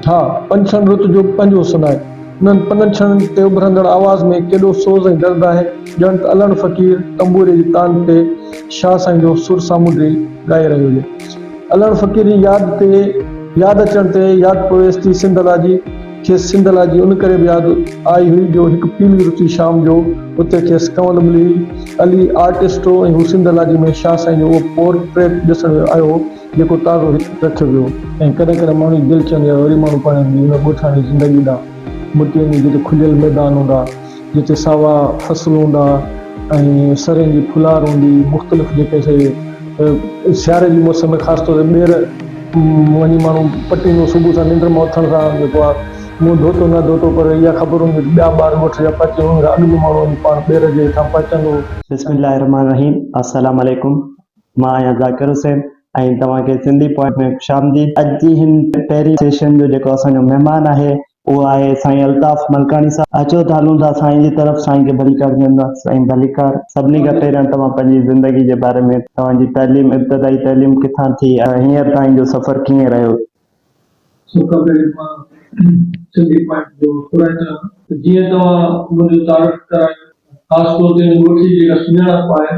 ها! پنڇڻ رت جو پنج حسن آهن. انهن پنڇڻن تي اڀرندڙ آواز ۾ ڪيڏو سوز ۽ درد آهي، ڄڻ ته الهڻ فقير تنبوري جي تان تي شاهه سائين جو سر سامونڊي ڳائي رهيو هجي. الهڻ فقير جي ياد تي ياد اچڻ تي ياد پويس ٿي سنڌ الاجي. کيس سنڌ لاء جي ان ڪري به ياد آئي هئي جو هڪ پيلي رتي شام جو اتي کيس ڪنول ملي هئي. علي آرٽسٽ هو ۽ هو سنڌ لاء جي ۾ شاهه سائين جو اهو پور ٽريٽ ڏسڻ ويو آيو هو جيڪو تازو هت رکيو ويو هو. ۽ ڪڏهن ڪڏهن ماڻهو جي دل چوندي آهي وري ماڻهو پنهنجي ان ڳوٺاڻي زندگي ڏانهن مٽي وڃي جتي کليل ميدان هوندا. جتي ساوا فصل هوندا ۽ سرين جي ڦلار هوندي مختلف جيڪي سي سياري جي موسم ۾ خاص طور تي ٻير وڃي ماڻهو پٽيندو صبح سان ننڊ مان اٿڻ سان جيڪو آ منهن ڌوتو نه ڌوتو پر اها خبر هوندي ته ٻيا ٻار ڳوٺ جا پهچي ويندا اڳ ۾ ماڻهو وڃي پاڻ ٻير جي هيٺان پهچندو. بسم الله الرحمن الرحيم السلام عليڪم مان آهيان ذاڪر حسين ۽ توهان کي سنڌي پوائنٽ ۾ خوش آمديد. اڄ جي هن پهرين سيشن جو جيڪو اسان جو مهمان آهي اهو آهي سائين الطاف ملڪاڻي صاحب. اچو ته هلون ٿا سائين جي طرف سائين کي ڀليڪار ڏيون ٿا. سائين ڀليڪار. سڀني کان پهريان توهان پنهنجي زندگي جي باري ۾ توهان جي تعليم ابتدائي تعليم ڪٿان ٿي ۽ هينئر تائين جو سفر ڪيئن رهيو؟ سڀ کان پهرين مان سنڌي پوائنٽ جو خدائي ٿو چاهيان ته جيئن توهان منهنجو تعارف ڪرايو خاص طور تي ان ڳوٺي جي جيڪا سڃاڻپ آهي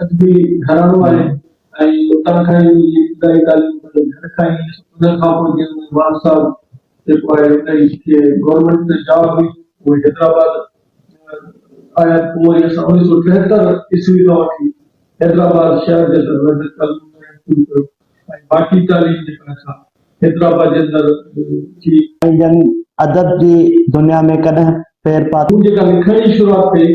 ادبي گهراڻو آهي ۽ اتان کان ئي منهنجي ابتدائي تعليم پنهنجي گهر کان ئي ان کان پوء جنهن ۾ وان صاحب جيڪو آهي انهي کي گورنمينٽ ۾ جاب هئي اهي حيدرآباد آيا پوء وري اسان اڻويهه سؤ ٽيهتر عيسوي کان وٺي حيدرآباد شهر جي اندر رهندي تعليم ڏيڻ شروع ڪيو ۽ باقي تعليم جيڪا اسان حيدرآباد جي اندر ٿي. ۽ جن ادب جي دنيا ۾ ڪڏهن پير پاتو. مون جيڪا لکڻ جي شروعات ڪئي.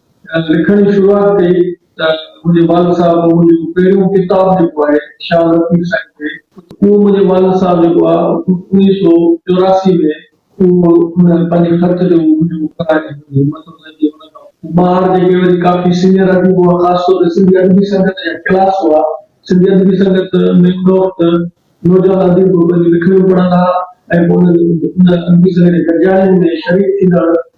لکڻ جي شروعات ڪئي ته منهنجي والد صاحب منهنجو پهريون ڪتاب جيڪو آهي شاهه لطيف سائين تي اهو منهنجي والد صاحب جيڪو آهي اڻويهه سؤ چوراسي ۾ اهو ان پنهنجي خط جو منهنجو ڪراچي جي همت حسين جي ان کان ٻاهر جيڪي وري ڪافي سينئر اديب هئا خاص طور تي سنڌي ادبي سنگت جا ڪلاس هئا سنڌي ادبي سنگت ۾ ان وقت نوجوان اديب پنهنجون لکڻيون پڙهندا هئا ۽ پوء انهن ادبي سنگت جي گڏجاڻين ۾ شريڪ ٿيندڙ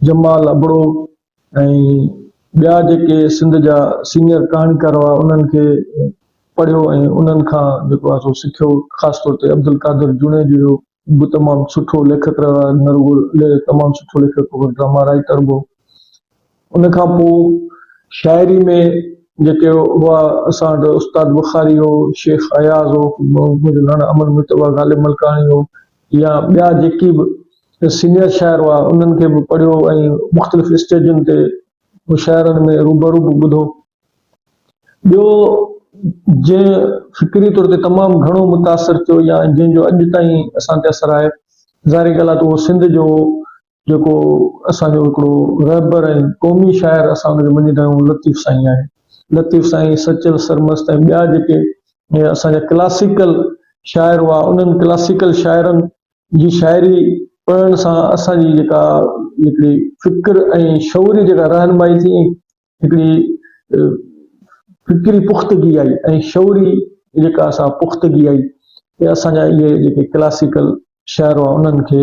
جمال ابڙو ۽ ٻيا جيڪي سنڌ جا سينيئر ڪهاڻيڪار هئا انهن کي پڙهيو ۽ انهن کان جيڪو آهي سو سکيو خاص طور تي عبدالقادر جوڻيجو جو به تمام سٺو ليکڪ رهيو آهي نه رڳو تمام سٺو ليکڪ هو پر ڊراما رائيٽر به هو ان کان پوء شاعري ۾ جيڪي هئا اسان وٽ استاد بخاري هو شيخ اياز هو منهنجو ناڻو امن مهتو هو غالب ملڪاڻي هو يا ٻيا جيڪي به سينئر شاعر هئا انهن کي به پڙهيو ۽ مختلف اسٽيجن تي مشاعرن ۾ روبرو به ٻڌو. ٻيو جنهن فڪري طور تي تمام گهڻو متاثر ٿيو يا جنهن جو اڄ تائين اسان تي اثر آهي ظاهري ڳالهه آهي ته اهو سنڌ جو جيڪو اسان جو هڪڙو رهبر ۽ قومي شاعر اسان ان کي مڃيندا آهيون لطيف سائين آهي. لطيف سائين، سچل سرمست ۽ ٻيا جيڪي اسان جا ڪلاسيڪل شاعر هئا انهن ڪلاسيڪل شاعرن جي شاعري پڙهڻ سان اسان جي جيڪا هڪڙي فڪر ۽ شعوري جيڪا رهنمائي ٿي هڪڙي فڪري پختگي آئي ۽ شعوري جيڪا اسان پختگي آئي ۽ اسان جا اهي جيڪي ڪلاسيڪل شاعر هئا انهن کي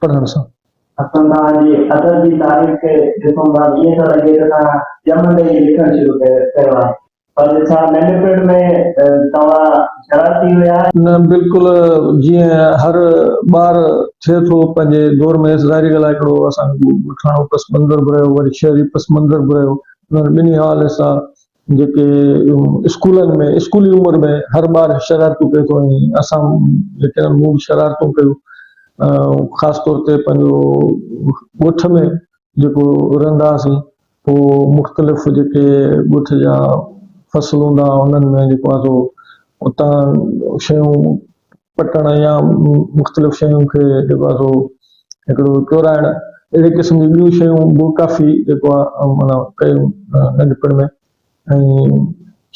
پڙهڻ سان. حسن خان جي ادب جي تاريخ کي ڏسون ٿا ته ائين ٿو لڳي ته تنهن ڄمندي ئي لکڻ شروع ڪيو آهي. پر ڇا ننڍپڻ ۾ توهان شرارتي هيا؟ نه بلڪل جيئن هر ٻار ٿئي ٿو پنهنجي دور ۾ ظاهري ڳالهه آهي هڪڙو اسان کي ڳوٺاڻو پس منظر به رهيو وري شهري پس منظر به رهيو انهن ٻنهي حوالي سان جيڪي اسڪولن ۾ اسڪولي عمر ۾ هر ٻار شرارتون ڪري ٿو ۽ اسان جيڪي آهن مون به شرارتون ڪيون خاص طور تي پنهنجو ڳوٺ ۾ جيڪو رهندا هئاسين پوء مختلف جيڪي ڳوٺ جا فصل هوندا ها انهن ۾ جيڪو آهي سو اتان شيون پٽڻ يا مختلف شيون کي جيڪو آهي سو هڪڙو چورائڻ اهڙي قسم جون ٻيون شيون به ڪافي جيڪو آهي معنيٰ ڪيون ننڍپڻ ۾ ۽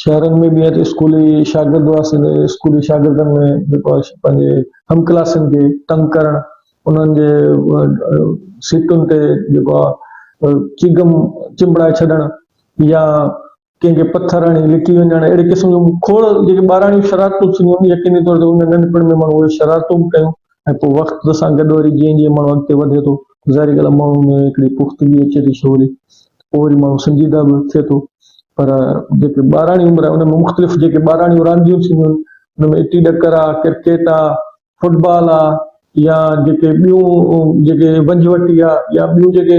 شهرن ۾ به اسڪولي شاگرد واسطي ته اسڪولي شاگردن ۾ جيڪو آهي پنهنجي هم ڪلاسين کي تنگ ڪرڻ انهن جي سيٽن تي جيڪو آهي چگم چنبڙائي ڇڏڻ يا ڪنهن کي پٿر هڻي لڪي وڃڻ اهڙي قسم جون کوڙ جيڪي ٻاراڻيون شرارتون ٿينديون يقيني طور تي ان ننڍپڻ ۾ ماڻهو اهي شرارتون به ڪيون ۽ پوء وقت سان گڏ وري جيئن جيئن ماڻهو اڳتي وڌي ٿو ظاهري ڳالهه ماڻهو ۾ هڪڙي پختگي اچي ٿي سوري پوء وري ماڻهو سنجيده به ٿئي ٿو پر جيڪي ٻاراڻي عمر آهي ان ۾ مختلف جيڪي ٻاراڻيون رانديون ٿينديون آهن ان ۾ اٽي ڏڪر آهي ڪرڪيٽ آهي فٽبال آهي يا جيڪي ٻيون جيڪي ونجهه وٽي آهي يا ٻيون جيڪي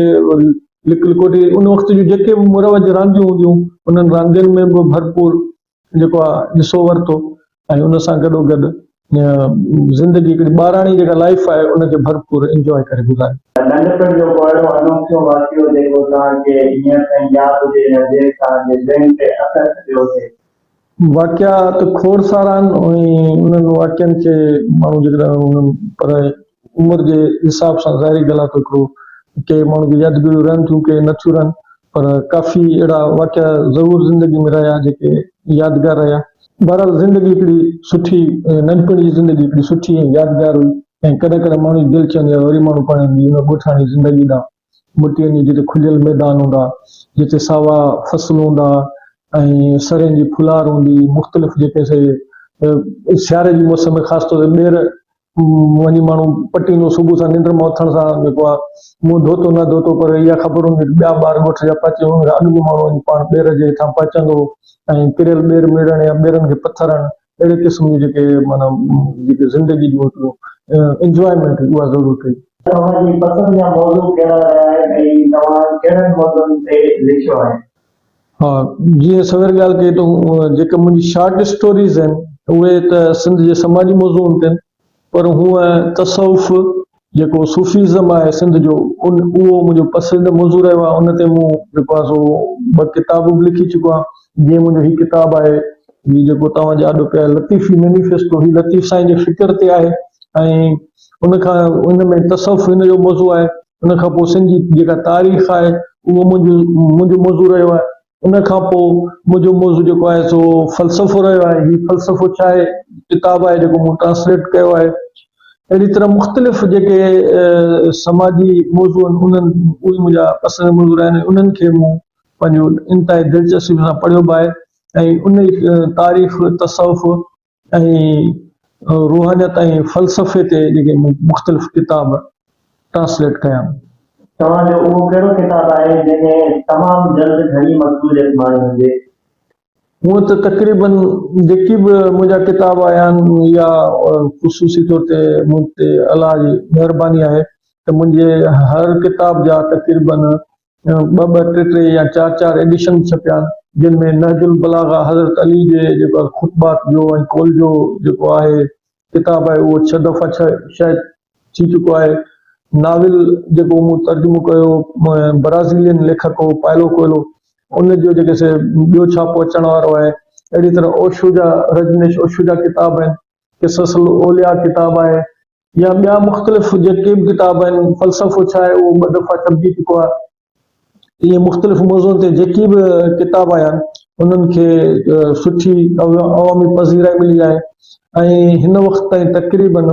لڪ لڪوٽي ان وقت جون جيڪي به مروج رانديون هونديون انهن راندين ۾ به ڀرپور جيڪو آء ڏسو ورتو ۽ ان سان گڏو گڏ زندگي هڪڙي ٻاراڻي جيڪا لائيف آهي ان کي ڀرپور انجوائي ڪري گذاري. ننڍپڻ جو ڪو اهڙو انوکيو واقعو جيڪو توهان کي هينئر تائين ياد هجي يا جنهن توهان جي ذهن تي اثر ڇڏيو هجي؟ واقعا ته کوڙ سارا آهن ۽ انهن واقعن کي ماڻهو جيڪڏهن پر عمر جي حساب سان ظاهري ڳالهه آهي ته هڪڙو ڪي ماڻهن جون يادگيريون رهن ٿيون ڪي نه ٿيون رهن پر ڪافي اهڙا واقعا ضرور زندگي ۾ رهيا جيڪي يادگار رهيا. بهرحال زندگي هڪڙي سٺي ننڍپڻ جي زندگي هڪڙي سٺي ۽ يادگار هئي ۽ ڪڏهن ڪڏهن ماڻهو جي دل چوندي آهي وري ماڻهو پنڻ ان ڳوٺاڻي زندگي ڏانهن مٽيء جي جتي کليل ميدان هوندا، جتي ساوا فصل هوندا ۽ سرين جي ڦلار هوندي، مختلف جيڪي سي سياري جي موسم ۾ خاص طور تي ٻير وڃي ماڻهو پٽيندو، صبح سان ننڊ مان اٿڻ سان جيڪو آ منهن ڌوتو نه ڌوتو پر اها خبر هوندي ته ٻيا ٻار ڳوٺ جا پهچي وڃن، اڳ به ماڻهو وڃي پاڻ ٻير جي هيٺان پهچندو ۽ ڪريل ٻير ميڙڻ يا ٻيرن کي پٿرڻ اهڙي قسم جون جيڪي معنيٰ جيڪي زندگي جون هڪڙيون Enjoyment هئي اها ضرور ڪئي. توهان جي پسند جا موضوع ڪهڙا رهيا آهن ۽ توهان ڪهڙن موضوعن تي لکيو آهي؟ ها جيئن سوير ڳالهه ڪئي تون جيڪي منهنجي شارٽ اسٽوريز آهن اهي ته سنڌ جي سماجي موضوعن تي آهن پر هونئن تصوف جيڪو صوفيزم آهي سنڌ جو ان اهو منهنجو پسنديده موضوع رهيو آهي ان تي مون جيڪو آهي سو ٻه ڪتاب به لکي چڪو آهيان جيئن منهنجو هي ڪتاب آهي هي جيڪو توهان جي آڏو پيو آهي لطيفي مينيفيسٽو هي لطيف سائين جي فڪر تي آهي ۽ ان کان ان ۾ تصوف ان جو موضوع آهي ان کان پوء سنڌ جي جيڪا تاريخ آهي اهو منهنجو منهنجو موضوع رهيو آهي ان کان پوء منهنجو موضوع جيڪو آهي سو فلسفو رهيو آهي. هي فلسفو ڇا آهي؟ ڪتاب آهي جيڪو مون ٽرانسليٽ ڪيو آهي. اهڙي طرح مختلف جيڪي سماجي موضوع آهن انهن اهي منهنجا پسند موضوع رهيا آهن انهن کي مون پنهنجو انتهائي دلچسپي سان پڙهيو به آهي ۽ انهي تاريخ تصوف ۽ روحانيت ۽ فلسفي تي جيڪي مون مختلف ڪتاب ٽرانسليٽ ڪيا آهن. توهان جو اهو ڪهڙو ڪتاب آهي جنهن ۾ تمام جلد گهڻي مقبوليت ماڻي هجي؟ هونء ته تقريبن جيڪي به منهنجا ڪتاب آيا آهن يا خصوصي طور تي مون تي الله جي مهرباني آهي ته منهنجي هر ڪتاب جا تقريبن ٻه ٻه، ٽي ٽي يا چار چار ايڊيشن ڇپيا، جن ۾ نهج البلاغه حضرت علي جي جيڪو خطبات جو ۽ قول جو جيڪو آهي ڪتاب آهي اهو ڇهه دفعا ڇهه شايع ٿي چڪو آهي. ناول جيڪو مون ترجمو ڪيو هو برازيلين ليکڪ هو پائلو ڪوئلو ان جو جيڪي سي ٻيو ڇاپو اچڻ وارو آهي. اهڙي طرح اوشو جا رجنيش اوشو جا ڪتاب آهن، قصص الاولياء ڪتاب آهي. يا ٻيا مختلف جيڪي به ڪتاب آهن، فلسفو ڇا آهي اهو ٻه دفعا ڇپجي چڪو آهي. ائين مختلف موضوعن تي جيڪي به ڪتاب آيا آهن، انهن کي سٺي عوامي پذيرائي ملي آهي ۽ هن وقت تائين تقريباً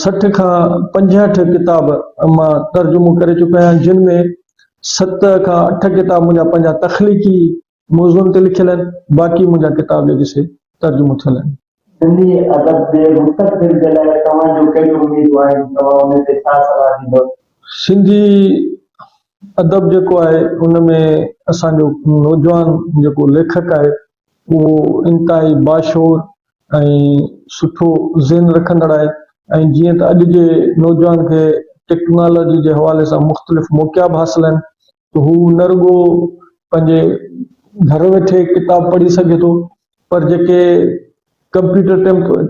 سٺ کان پنجهٺ ڪتاب مان ترجمو ڪري چڪو آهيان، جن ۾ ست کان اٺ ڪتاب منهنجا پنهنجا تخليقي موضوعن تي لکيل آهن، باقي منهنجا ڪتاب جيڪي سي ترجمو ٿيل آهن. سنڌي ادب جي مستقبل جي لاء توهان جون ڪهڙيون اميدون آهن؟ توهان ان تي ڇا صلاح ڏيندؤ؟ سنڌي ادب جيڪو آهي ان ۾ اسان جو نوجوان جيڪو ليکڪ آهي اهو انتهائي باشعور ۽ سٺو ذهن رکندڙ آهي ۽ جيئن ته اڄ جي نوجوان کي ٽيڪنالاجي جي حوالي سان مختلف موقعا به حاصل آهن هو نه رڳو پنهنجي گهر ويٺي ڪتاب پڙهي سگهي ٿو پر جيڪي ڪمپيوٽر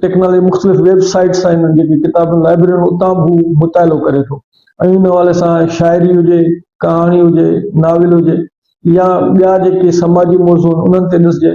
ٽيڪنالاجي مختلف ويب سائيٽس آهن جيڪي ڪتابن لائبررين اتان به هو مطالعو ڪري ٿو ۽ ان حوالي سان شاعري هجي ڪهاڻي هجي ناول هجي يا ٻيا جيڪي سماجي موضوع انهن تي ڏسجي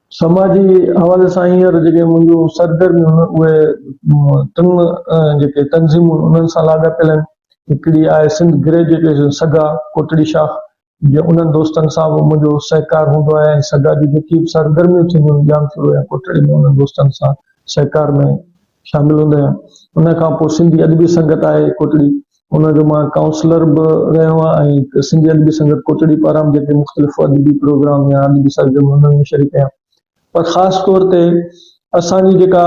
سماجي حوالي سان هينئر جيڪي منهنجون سرگرميون آهن اهي ٽن جيڪي تنظيمون انهن سان لاڳاپيل آهن. هڪڙي آهي سنڌ گريجوئيٽ سگا ڪوٽڙي شاخ جي انهن دوستن سان به منهنجو سهڪار هوندو آهي ۽ سگا جون جيڪي به سرگرميون ٿينديون آهن ڄامشورو يا ڪوٽڙي ۾ انهن دوستن سان سهڪار ۾ شامل هوندا آهيان ان کان پوء سنڌي ادبي سنگت آهي ڪوٽڙي ان جو مان ڪائونسلر به رهيو آهيان ۽ سنڌي ادبي سنگت ڪوٽڙي پاران به جيڪي مختلف ادبي پروگرام يا ادبي سرگرميون هونديون آهن ان ۾ شريڪ آهيان پر خاص طور تي اسان جي جيڪا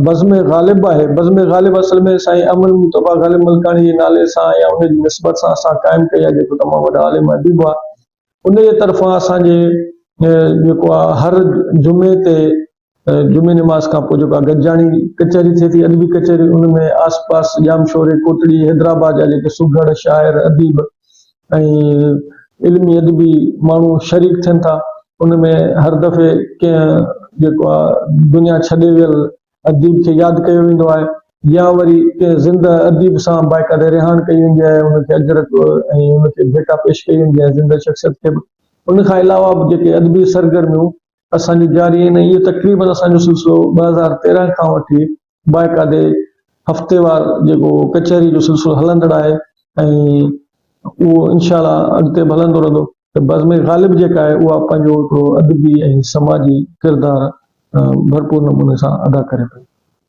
بزم غالب آهي بزم غالب اصل ۾ سائين امن مطبع غالب ملڪاڻي جي نالي سان يا ان جي نسبت سان اسان قائم ڪئي آهي جيڪو تمام وڏا عالم اديب هئا ان جي طرفان اسان جي جيڪو آهي هر جمعي تي جمعي نماز کان پوء جيڪا گڏجاڻي ڪچهري ٿئي ٿي، ادبي ڪچهري، ان ۾ آس پاس ڄامشوري، ڪوٽڙي، حيدرآباد جا جيڪي سگهڙ شاعر، اديب ۽ علمي ادبي ماڻهو شريڪ ٿين ٿا، ان ۾ هر دفعي ڪنهن جيڪو آ دنيا ڇڏي ويل اديب کي ياد ڪيو ويندو آهي يا وري ڪنهن زنده اديب سان بائيڪاٽ رهاڻ ڪئي ويندي آهي، ان کي اجرڪ ۽ ان کي ڀيٽا پيش ڪئي ويندي آهي، زنده شخصيت کي به. ان کان علاوه به جيڪي ادبي سرگرميون اسان جي جاري آهن ۽ اهي تقريبن اسان جو سلسلو ٻه هزار تيرنهن کان وٺي باقاعدي هفتيوار جيڪو ڪچهري جو سلسلو هلندڙ آهي ۽ اهو انشاء الله اڳتي به هلندو رهندو ته بزم غالب جيڪا آهي اها پنهنجو هڪڙو ادبي ۽ سماجي ڪردار ڀرپور نموني سان ادا ڪري پئي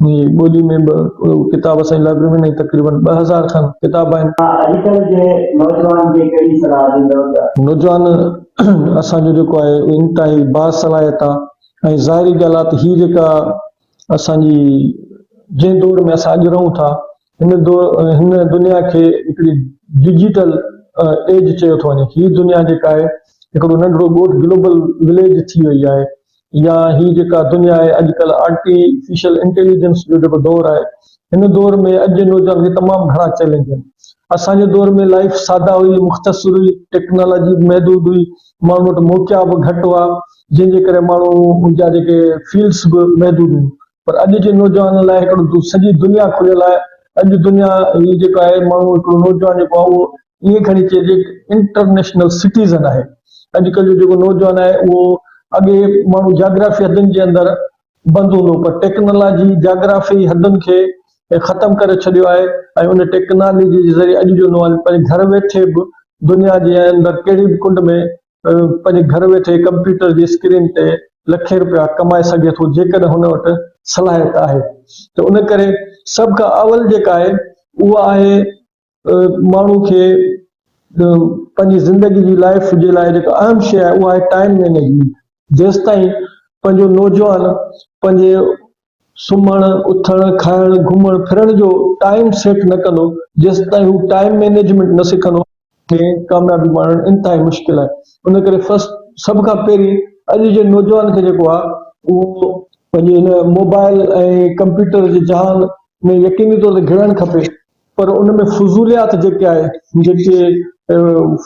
جي ٻولي ۾ به اهو ڪتاب اسان جي لائبرري ۾ تقريبن ٻه هزار کن ڪتاب آهن. توهان اڄ ڪلهه جي نوجوان کي ڪهڙي صلاح ڏيندؤ ته. نوجوان اسان جو جيڪو آهي اهو انتهائي باصلاحيت آهي ۽ ظاهري ڳالهه آهي ته هي جيڪا اسان جي جنهن دور ۾ اسان اڄ رهون ٿا هن دنيا کي هڪڙي ڊجيٽل ايج چيو ٿو وڃي. هي دنيا جيڪا آهي هڪڙو ننڍڙو ڳوٺ گلوبل وليج ٿي وئي آهي يا هي جيڪا دنيا آهي اڄ ڪلهه آرٽيفيشل انٽيليجنس جو جيڪو دور آهي هن دور ۾ اڄ جي نوجوان کي تمام گهڻا چئلينج آهن. اسان جي دور ۾ لائيف سادا هئي، مختصر هئي، ٽيڪنالاجي به محدود هئي، ماڻهن وٽ موقعا به گهٽ هئا جنهن جي ڪري ماڻهن جا جيڪي فيلڊس به محدود هيون. پر اڄ جي نوجوانن لاء هڪڙو دو سڄي دنيا کليل آهي اڄ دنيا هي جيڪو آهي ماڻهو هڪڙو نوجوان جيڪو آهي اهو ائين کڻي چئجي هڪ انٽرنيشنل سٽيزن آهي اڄ ڪلهه جو جيڪو نوجوان آهي اهو اڳي ماڻهو جاگرافي حدن جي اندر بند هوندو پر ٽيڪنالاجي جاگرافي حدن کي ختم ڪري ڇڏيو آهي ۽ ان ٽيڪنالاجي جي ذريعي اڄ جو نوجوان پنهنجي گهر ويٺي به دنيا جي اندر ڪهڙي به ڪنڊ ۾ پنهنجي گهر ويٺي ڪمپيوٽر جي اسڪرين تي لکين رپيا ڪمائي سگهي ٿو جيڪڏهن هن وٽ صلاحيت آهي ته ان ڪري سڀ کان اول جيڪا آهي اها آهي ماڻهو کي پنهنجي زندگي جي لائف جي لاء جيڪا اهم شيء آهي اها آهي ٽائيم مينيجمينٽ جيستائين پنهنجو نوجوان پنهنجي سمهڻ، اٿڻ، کائڻ، گهمڻ ڦرڻ جو ٽائيم سيٽ نه ڪندو، جيستائين هو ٽائيم مينيجمينٽ نه سکندو. ۾ ڪاميابي ماڻڻ انتهائي مشڪل آهي ان ڪري فرسٽ سڀ کان پهرين اڄ جي نوجوان کي جيڪو آهي اهو. پنهنجي هن موبائل ۽ ڪمپيوٽر جي جهان ۾ يقيني طور تي گهڙڻ کپي پر ان ۾ فضوليات جيڪي آهي جيڪي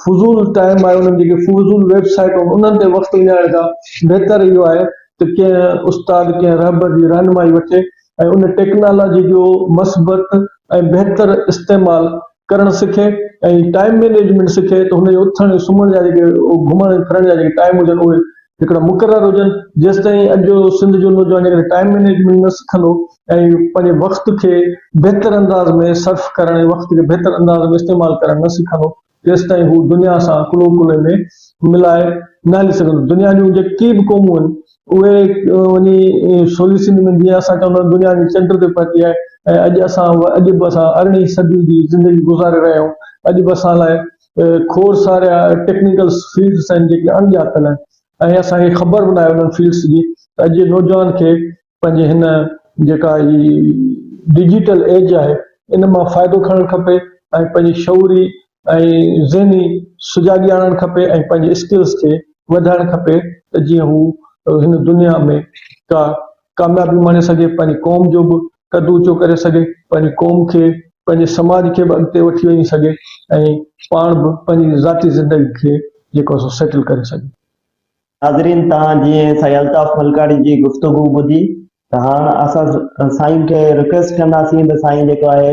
فضول ٽائيم آهي انهن جيڪي فضول ويب سائيٽون انهن تي وقت وڃائڻ کان بهتر اهو آهي ته ڪنهن استاد ڪنهن رهبر جي رهنمائي وٺي ۽ ان ٽيڪنالاجي جو مثبت ۽ بهتر استعمال ڪرڻ سکي ۽ ٽائيم مينيجمينٽ سکي ته هن جي اٿڻ سمهڻ جا جيڪي گهمڻ ڦرڻ جا جيڪي ٽائيم هجن اهي هڪڙا مقرر هجن جيستائين اڄ جو سنڌ جو نوجوان جيڪڏهن ٽائيم مينيجمينٽ نه سکندو ۽ پنهنجي وقت کي بهتر انداز ۾ صرف ڪرڻ ۽ وقت کي بهتر انداز ۾ استعمال ڪرڻ نه سکندو تيستائين هو دنيا سان ڪلهو ڪلهي ۾ ملائي نه هلي سگهندو دنيا جون جيڪي به قومون آهن اهي وڃي سولي سنڌ ۾ جيئن اسان چوندا آهيون دنيا جي چنڊ تي پهتي آهي ۽ اڄ اسان اڄ به اسان ارڙهين صدي جي زندگي گذاري رهيا آهيون اڄ به اسان لاء کوڙ سارا ٽيڪنيڪل فيلڊس آهن جيڪي اڻ ڄاتل آهن ۽ اسان کي خبر به ناهي انهن فيلڊس جي ته اڄ جي نوجوان کي پنهنجي هن جيڪا هي ڊجيٽل ايج آهي ان مان فائدو کڻڻ کپي ۽ پنهنجي شعوري ۽ ذهني سجاڳي آڻڻ کپي ۽ پنهنجي اسڪلس کي وڌائڻ کپي ته جيئن هو هن دنيا ۾ ڪا ڪاميابي ماڻي سگهي پنهنجي قوم جو به قد اوچو ڪري سگهي، پنهنجي قوم کي، پنهنجي سماج کي به اڳتي وٺي وڃي سگهي ۽ پاڻ به پنهنجي ذاتي زندگي کي جيڪو سو سيٽل ڪري سگهي. ناظرين توهان جيئن سائين الطاف ملڪاڻي جي گفتگو ٻڌي ته هاڻ اسان سائين کي رڪويسٽ ڪنداسين ته سائين جيڪو آهي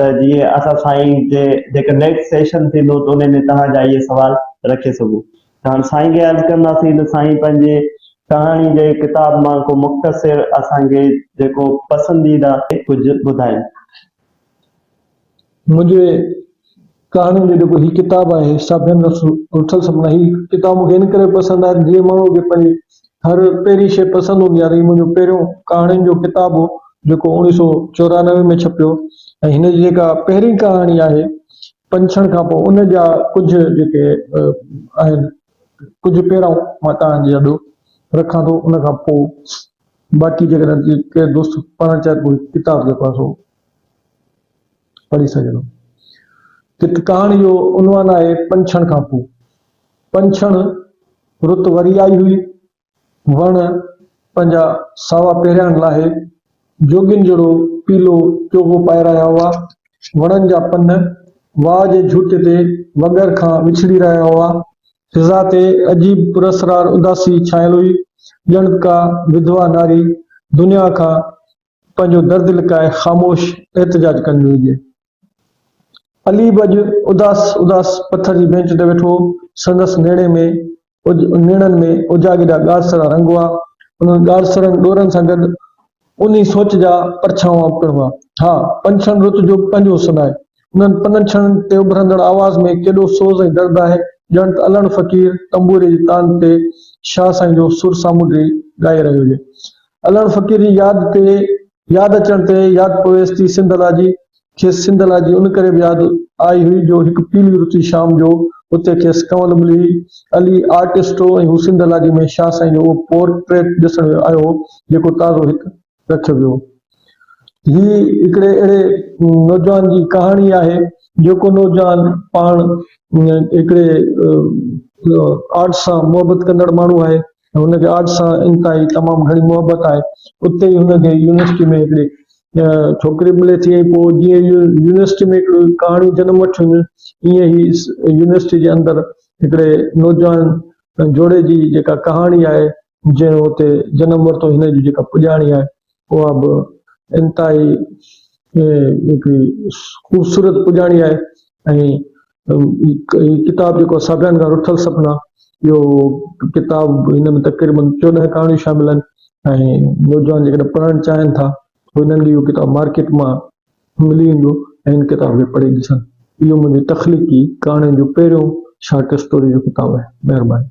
ته جيئن اسان سائين جي جيڪر نيڪسٽ سيشن ٿيندو ته انهي ۾ توهان جا اهي سوال رکي سگهو ته هاڻ سائين کي عرض ڪنداسين ته سائين پنهنجي ڪهاڻي جي ڪتاب مان ڪو مختصر اسان کي جيڪو پسنديده ڪجهه ٻڌائين. منهنجي ڪهاڻين جو جيڪو هي ڪتاب آهي سا بين رٿل سپنا هي ڪتاب مون کي ان ڪري پسند آهي جيئن ماڻهو کي پنهنجي هر پهرين شيء پسند هوندي آهي ته هي منهنجو پهريون ڪهاڻين جو ڪتاب هو جيڪو اوڻيهه سو چورانوي ۾ ڇپيو ۽ هن جي جيڪا پهرين ڪهاڻي آهي پنڇڻ کان پوء ان جا ڪجهه جيڪي آهن ڪجهه پيرائون مان توهان جي آڏو رکان ٿو ان کان پوء باقي جيڪڏهن ڪير دوست پڙهڻ چاهي ته ڪتاب جيڪو آهي سو پڙهي سگهندو. ڪٿ ڪهاڻي جو عنوان آهي پنڇڻ کان پوء. پنڇڻ رت وري آئي هئي. وڻ پنهنجا ساوا پهرياڻ لاهي جوڳين جهڙو پيلو چوغو پائي رهيا هئا. وڻن جا پن واء جي جهوٽي تي وڳر کان وڇڙي رهيا هئا. فضا تي عجيب پراسرار اداسي ڇانيل هئي، ڄڻ ڪا وڌوا ناري دنيا کان پنهنجو درد لڪائي خاموش احتجاج ڪندي هجي. علي به اڄ اداس اداس پٿر جي بينچ تي ويٺو هو. سندس نيڻي ۾ نيڻن ۾ اجاڳيڏا ڳاڙهسرا رنگ هئا. انهن ڳاڙهسرن ڏورن سان گڏ انهي سوچ جا پرڇاوا پڻ هئا. ها، پنڇن رت جو به پنهنجو حسن آهي. انهن پنن ڇڻن تي اڀرندڙ آواز ۾ ڪيڏو سوز ۽ درد آهي، ڄڻ ته الهڻ فقير تنبوري جي تان تي شاهه سائين جو سر سامونڊي ڳائي رهيو هجي. الهڻ فقير جي ياد تي ياد اچڻ تي ياد پويس ٿي سنڌ الاجي. کيس سنڌ الاجي ان ڪري به ياد آئي هئي جو هڪ پيلي رتي شام جو اتي کيس ڪنول ملي هئي. علي آرٽسٽ هو ۽ هو سنڌ الاجي ۾ شاهه سائين جو اهو پورٽريٽ ڏسڻ آيو هو، جيڪو تازو هڪ. رکيو ويو. هي هڪڙي اهڙي نوجوان جي ڪهاڻي آهي، جيڪو نوجوان پاڻ هڪڙي آرٽ سان محبت ڪندڙ ماڻهو آهي. هن کي آرٽ سان انتهائي تمام گهڻي محبت آهي. اتي ئي هن کي يونيورسٽي ۾ هڪڙي ڇوڪري ملي ٿي ۽ پوء جيئن ئي يونيورسٽي ۾ هڪڙي ڪهاڻي جنم وٺي هونديون ايئن هي يونيورسٽي جي اندر هڪڙي نوجوان جوڙي جي جيڪا ڪهاڻي آهي، جنهن اتي جنم ورتو هن جي جيڪا پڄاڻي آهي اها به انتهائي هڪڙي خوبصورت پڄاڻي آهي ۽ ڪتاب جيڪو آهي ساڀيان کان رٿل سپنا اهو ڪتاب هن ۾ تقريبن چوڏهن ڪهاڻيون شامل آهن ۽ نوجوان جيڪڏهن پڙهڻ چاهين ٿا انهن کي اهو ڪتاب مارڪيٽ مان ملي ويندو ۽ ان ڪتاب کي پڙهي ڏسن اهو منهنجي تخليقي ڪهاڻين جو پهريون شارٽ اسٽوري جو ڪتاب آهي مهرباني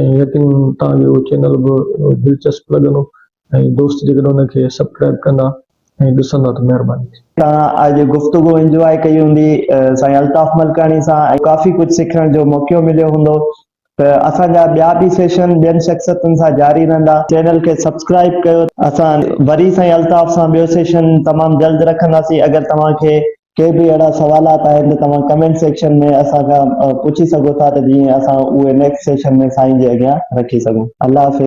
۽ يقينن توهان کي اهو چينل به دلچسپ لڳندو ۽ دوست جيڪڏهن ان کي سبڪرائيب ڪندا ۽ ڏسندا ته مهرباني ٿيندي. توهان اڄ گفتگو انجواء ڪئي هوندي سائين الطاف ملڪاڻي سان ۽ ڪافي ڪجهه سکڻ جو موقعو مليو هوندو ته اسان جا ٻيا به سيشن ٻين شخصيتن سان جاري رهندا چينل کي سبسڪرائيب ڪيو اسان وري سائين الطاف سان ٻيو سيشن تمام جلد رکنداسين اگر توهان کي ڪي به اهڙا سوالات آهن ته توهان ڪمينٽ سيڪشن ۾ اسان کان پڇي سگهو ٿا ته جيئن اسان اهي نيڪسٽ سيشن ۾ سائين جي اڳيان رکي سگهون الله حافظ.